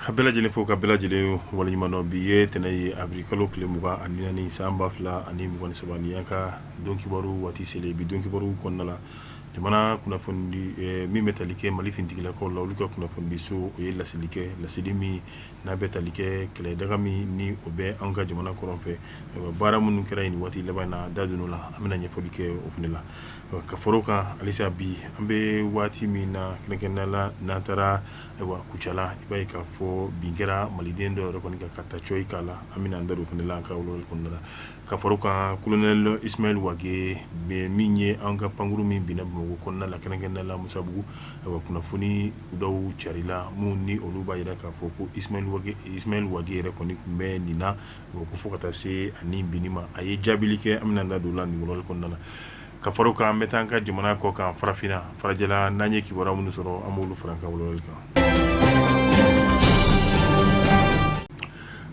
A bɛɛ lajɛlen fo ka bɛɛ lajɛlen waleɲumandɔn bi ye ntɛnɛn ye awirili kalo tile mugan ani naani san ba fila ani mugan ni saba nin y'an ka don kibaru waati selen bi don kibaru kɔnɔna la jamana kunnafonidi min bɛ tali kɛ mali finitigilakaw la olu ka kunnafonidi so o ye laseli kɛ laseli min n'a bɛ tali kɛ kɛlɛ daga min ni o bɛ an ka jamana kɔrɔn fɛ baara minnu kɛra nin waati laban in na da don o la an bɛna ɲɛfɔli kɛ o fana la ka fara a kan halisa bi an bɛ waati min na kɛrɛnkɛrɛnnenya la n'an taara kucala i b'a ye k'a fɔ bin kɛra maliden dɔw yɛrɛ kɔni kan ka taa cogo k'a la an bɛna an da don o fana la an ka kɔnɔna la ka fara a kan kolonɛli Ismail Wage min ye an ka pankkuru min binna bamakɔ kɔnɔna la kɛrɛnkɛrɛnnenya la Misabugu a kunnafoni dɔw carila minnu ni olu b'a jira k'a fɔ ko Ismail Wage yɛrɛ kɔni tun bɛ nin na ko fo ka taa se ani bi ma a ye jaabibili kɛ an bɛna an da don o la ni kɔnɔna la ka fara a kan an bɛ taa an ka jamana kɔ kan farafinna farajɛla n'an ye kibaru minnu sɔrɔ an b'olu fara kan kan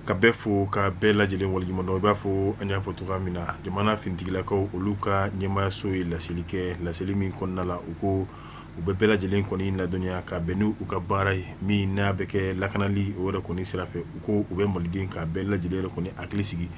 ka bɛɛ fo ka bɛɛ lajɛlen waleɲumandɔn i b'a fɔ an y'a fɔ cogoya min na jamana finitigilakaw olu ka ɲɛmaayaso ye laseli kɛ laseli min kɔnɔna la u ko u bɛ bɛɛ lajɛlen kɔni ladɔnniya ka bɛn n' u ka baara ye min n'a bɛ kɛ lakanali o yɛrɛ kɔni sira fɛ u ko u bɛ maliden ka bɛɛ lajɛlen yɛrɛ kɔni hakili sigi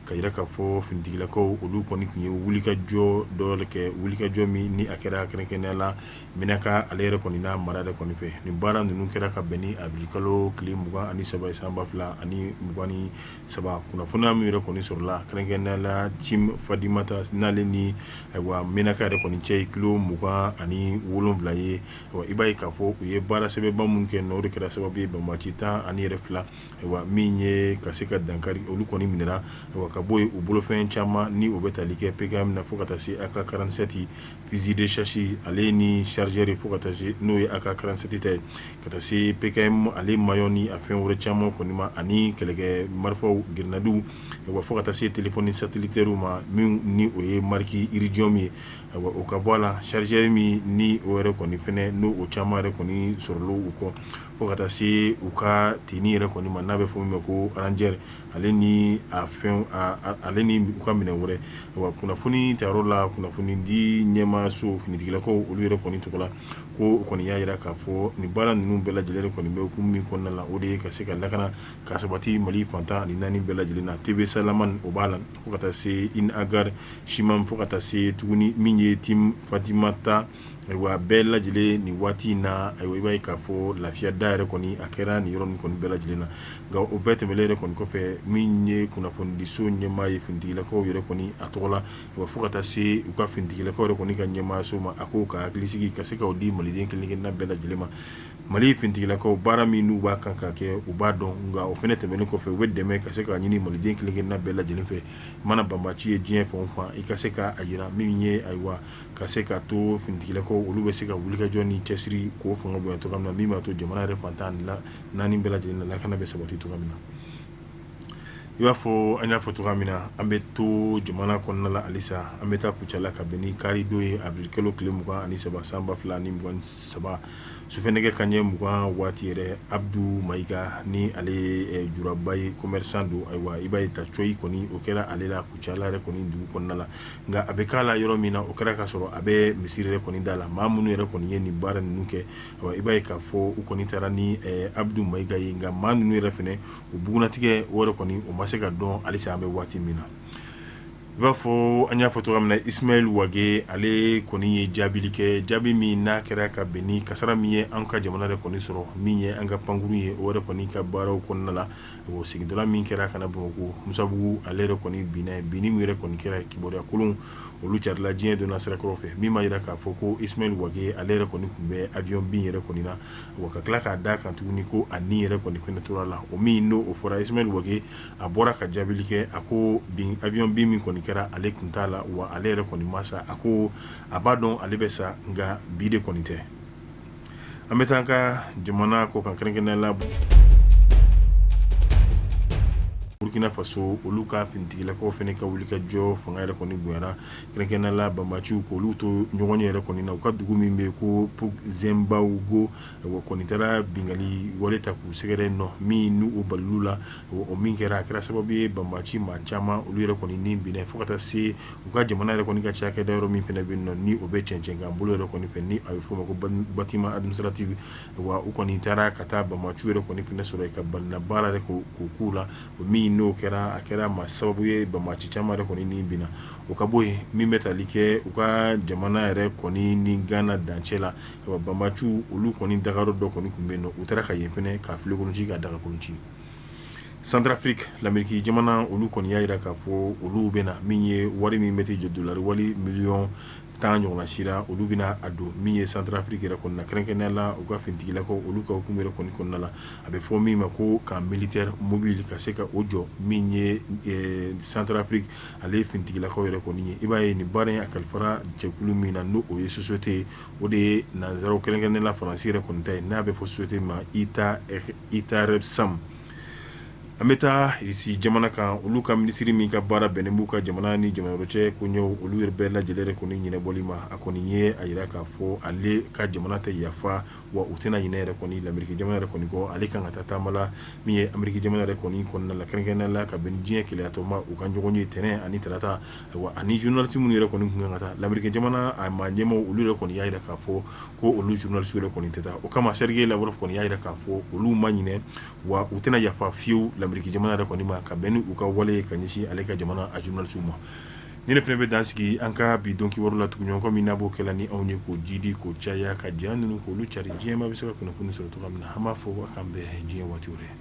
k'a yira k'a fɔ finitigilakaw olu kɔni tun ye wulikajɔ dɔ le kɛ wulikajɔ min ni a kɛra kɛrɛnkɛrɛnnenya la Menaka ale yɛrɛ kɔni n'a mara de kɔni fɛ ni baara ninnu kɛra ka bɛn ni awirili kalo tile mugan ani saba san ba fila ani mugan ni saba kunnafoni y'a min yɛrɛ kɔni sɔrɔla kɛrɛnkɛrɛnnenya la Tin Fadimata n'ale ni ayiwa Menaka yɛrɛ kɔni cɛ kilo mugan ani wolonwula ye i b'a ye k'a fɔ u ye baara sɛbɛba minnu kɛ n'o de kɛra sababu ye banbaanci tan ani yɛrɛ fila ayiwa min ye ka se ka dankari olu kɔni minɛna ka bɔ yen u bolofɛn caman ni u bɛ tali kɛ PKM na fo ka taa se AK karansɛti Fusil de chasse ale ni chargeur fo ka taa se n'o ye AK karansɛti ta ye ka taa se PKM ale mayɔn ni a fɛn wɛrɛ caman kɔni ma ani kɛlɛkɛ marifaw grenadiw fo ka taa se téléphone satellitaire ma min ni o ye marque Iridium ye o ka bɔ a la chargeur min ni o yɛrɛ kɔni fana n'o o caman yɛrɛ kɔni sɔrɔla u kɔ fo ka taa se u ka tenue yɛrɛ kɔni ma n'a bɛ fɔ min ma ko ranger ale ni a fɛn ale ni u ka minɛn wɛrɛ wa kunnafoni ta la kunnafoni di ɲɛmaaso finitigilakaw olu yɛrɛ kɔni tɔgɔ la ko o kɔni y'a jira k'a fɔ nin baara ninnu bɛɛ lajɛlen kɔni bɛ kun min kɔnɔna la o de ye ka se ka lakana ka sabati mali fan tan ani naani bɛɛ lajɛlen na Tebesalaman o b'a la fo ka taa se In Agar Shimam fo ka taa se tuguni min ye Tin Fadimata Ayiwa a bɛɛ lajɛlen nin waati in na a i b'a ye k'a fɔ lafiya da yɛrɛ kɔni a kɛra nin yɔrɔ min kɔni bɛɛ lajɛlen na nka o bɛɛ tɛmɛnen yɛrɛ kɔni kɔfɛ min ye kunnafonidiso ɲɛmaa ye finitigilakaw yɛrɛ kɔni a tɔgɔ la wa fo ka taa se u ka finitigilakaw yɛrɛ kɔni ka ɲɛmaaso ma a k'o ka hakili sigi ka se k'o di maliden kelenkelenna bɛɛ lajɛlen ma mali finitigilakaw baara min n'u b'a kan ka kɛ u b'a dɔn nka o fana tɛmɛnen kɔfɛ u bɛ dɛmɛ ka se ka ɲini maliden kelenkelenna bɛɛ lajɛlen fɛ mana banbaci ye diɲɛ fan o fan i ka se k'a jira min ye ayiwa ka se ka to finitigilakaw olu bɛ se ka wulikajɔ ni cɛsiri ko fanga bɔ cogo min na min b'a to jamana yɛrɛ fan tan la naani bɛɛ lajɛlen lakana bɛ sabati cogo min na i b'a fɔ an y'a fɔ cogoya min na an bɛ to jamana kɔnɔnala alisa an bɛ taa kucala ka bɛn ni karidon ye awirilikalo tile mugan ani saba san ba fila ni mugan saba sufɛ nɛgɛ kanɲɛ mugan waati yɛrɛ abudu mayiga ni ale juraba ye commerçant don ayiwa i b'a ta cogo yɛrɛ kɔni o kɛra ale la kucala yɛrɛ kɔni dugu kɔnɔna la nka a bɛ k'a la yɔrɔ min na o kɛra k'a sɔrɔ a bɛ misiri yɛrɛ kɔni da la maa minnu yɛrɛ kɔni ye nin baara ninnu kɛ i b'a ye k'a fɔ u kɔni taara ni abudu mayiga ye nka maa ninnu yɛrɛ fana u bugunnatigɛ o yɛrɛ kɔni o ma se ka dɔn halisa an bɛ waati min na i b'a fɔ an y'a fɔ cogo min na isimayɛli wage ale kɔni ye jaabili kɛ jaabi min n'a kɛra ka bɛn ni kasara min ye an ka jamana yɛrɛ kɔni sɔrɔ min ye an ka pankurun ye o yɛrɛ kɔni ka baaraw kɔnɔna la o segintɔla min kɛra ka na bamakɔ musabugu ale yɛrɛ kɔni binni min yɛrɛ kɔni kɛra kibaru kolon olu carinla diɲɛ donna sira kɔrɔ fɛ min b'a jira k'a fɔ ko isimayɛli wage ale yɛrɛ kɔni tun bɛ awiyɔn bin yɛrɛ kɔni na wa ka tila k'a da kan tuguni ko a ni yɛrɛ kɔni fana tora la o min n'o fɔra isimayɛli wage a bɔra ka jaabili kɛ a ko bin awiyɔn bin min kɔni kɛra ale tun t'a la wa ale yɛrɛ kɔni ma sa a ko a b'a dɔn ale bɛ sa nka bi de kɔni tɛ an bɛ taa an ka jamana kɔkan kɛrɛnkɛrɛnnenya la burukina faso olu ka finitigilakaw fana ka wuli ka jɔ fanga yɛrɛ kɔni bonyana kɛrɛnkɛrɛnnenya la banbaciw k'olu to ɲɔgɔn yɛrɛ kɔni na u ka dugu min bɛ yen ko zenbago kɔni taara bingali wale ta k'u sɛgɛrɛ nɔ min n'o balal'u la o min kɛra a kɛra sababu ye banbaci maa caman olu yɛrɛ kɔni ni bin fo ka taa se u ka jamana yɛrɛ kɔni ka cakɛda yɔrɔ min fana bɛ yen nɔ ni o bɛ cɛncɛnkan bolo yɛrɛ kɔni fɛ ni a bɛ f'o ma ko bâtiment administratif wa u kɔni taara ka taa banbaciw yɛrɛ kɔni fana sɔrɔ yen ka balina baara yɛrɛ k'o k'u la o min n'o kɛra a kɛra maa sababu ye banbaci caman yɛrɛ kɔni ni bin o ka bɔ yen min bɛ tali kɛ u ka jamana yɛrɛ kɔni ni gana dancɛ la banbaciw olu kɔni dagayɔrɔ dɔ kɔni tun bɛ yen u taara ka yen fana ka filenkolonci ka dagakolonci Centrafrique l'Amérique jamana olu kɔni y'a jira k'a fɔ olu bɛna min ye wari min bɛ jɔ dollar wari miliyɔn tan ɲɔgɔn sira olu bɛna a don min ye Centrafrique yɛrɛ kɔnɔna kɛrɛnkɛrɛnnenya la u ka finitigilakaw olu ka hukumu yɛrɛ kɔni kɔnɔna la a bɛ fɔ min ma ko camp militaire mobile ka se ka o jɔ min ye Centrafrique ale finitigilakaw yɛrɛ kɔni ye i b'a ye nin baara in a kalifara jɛkulu min na n' o ye société o de ye nansaraw kɛrɛnkɛrɛnnenya la faransi yɛrɛ kɔni ta ye n'a bɛ fɔ société ma i ta i taara samu an bɛ taa irisi jamana kan olu ka minisiri min ka baara bɛnnen b'u ka jamana ni jamana wɛrɛ cɛ ko olu yɛrɛ bɛɛ lajɛlen yɛrɛ kɔni ɲɛnabɔli ma a kɔni ye a jira k'a fɔ ale ka jamana tɛ yafa wa u tɛna ɲinɛ yɛrɛ kɔni l'Amérique jamana yɛrɛ kɔni kɔ ale kan ka taa taama la min ye Amérique jamana yɛrɛ kɔni kɔnɔna la kɛrɛnkɛrɛnnenya la ka bɛn diɲɛ kelenyatɔn ma u ka ɲɔgɔnye tɛnɛn ani tarata ani journaliste minnu yɛrɛ kɔni kan ka taa l'Amérique jamana a maa ɲɛmaaw olu yɛrɛ kɔni y'a jira k'a fɔ ko olu journalistew yɛrɛ kɔni tɛ taa o kama Sergei Lavrov kɔni y'a jira k'a fɔ olu ma ɲinɛ wa u tɛna yafa fiyewu l'Amérique jamana yɛrɛ kɔni ma ka bɛn n' u ka wale ka ɲɛsin ale ka jamana a journalistew ma nin fɛnɛ bɛ dan sigi an ka bi don kibaru la tuguɲɔgɔn komi n'a b'o kɛ la ni anw ye k'o jidi k'o caya ka ja ninnu k'olu cari diɲɛ maa bɛ se ka kunnafoni sɔrɔ cogo min na an b'a fɔ a k'an bɛn diɲɛ waati wɛrɛ